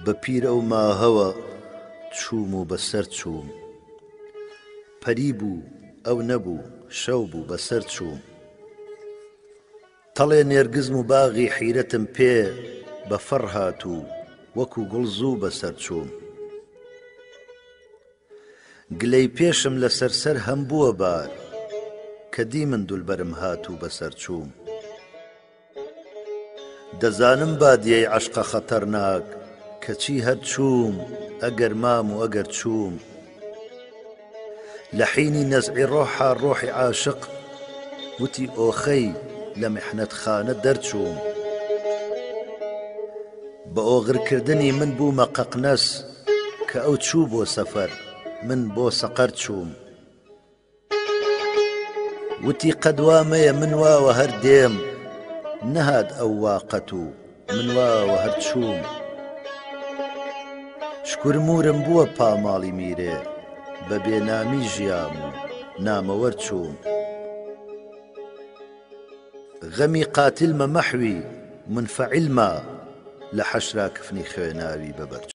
بە پیرە و ماهەوە چووم و بەسەر چووم پەری بوو ئەو نەبوو شەو بوو بەسەر چووم تەڵێ نێرگزم و باغی حیرەتم پێ بە فەڕ هات و وەکوو گوڵ زوو بەسەر چووم. گلەی پێشم لە سەر سەر هەم بووە بار کە دیمن دولبەرم هات و بەسەر چووم. دەزانم بادیەی عەشقە خەتەرناک کەچی هەر چووم ئەگەر مام و ئەگەر چووم، لە حینی نەزعی ڕۆحا ڕۆحی عاشق وتی ئۆخەی لە محنەتخانە دەرچووم بە ئۆغرکردنی من بوومە قەقنەس کە ئەو چوو بۆ سەفەر من بۆ سەقەر چووم وتی قەد وا مەیە من واوە هەر دێم نەهات ئەو وا قەت و من واوە هەر چووم شکور مورم بووە پاماڵی میرێ بە بێنامی ژیام و نامەوەەر چووم غەمی قاتلمە مەحوی منفعلما لە حەشرا کفنی خوێناوی بەبەر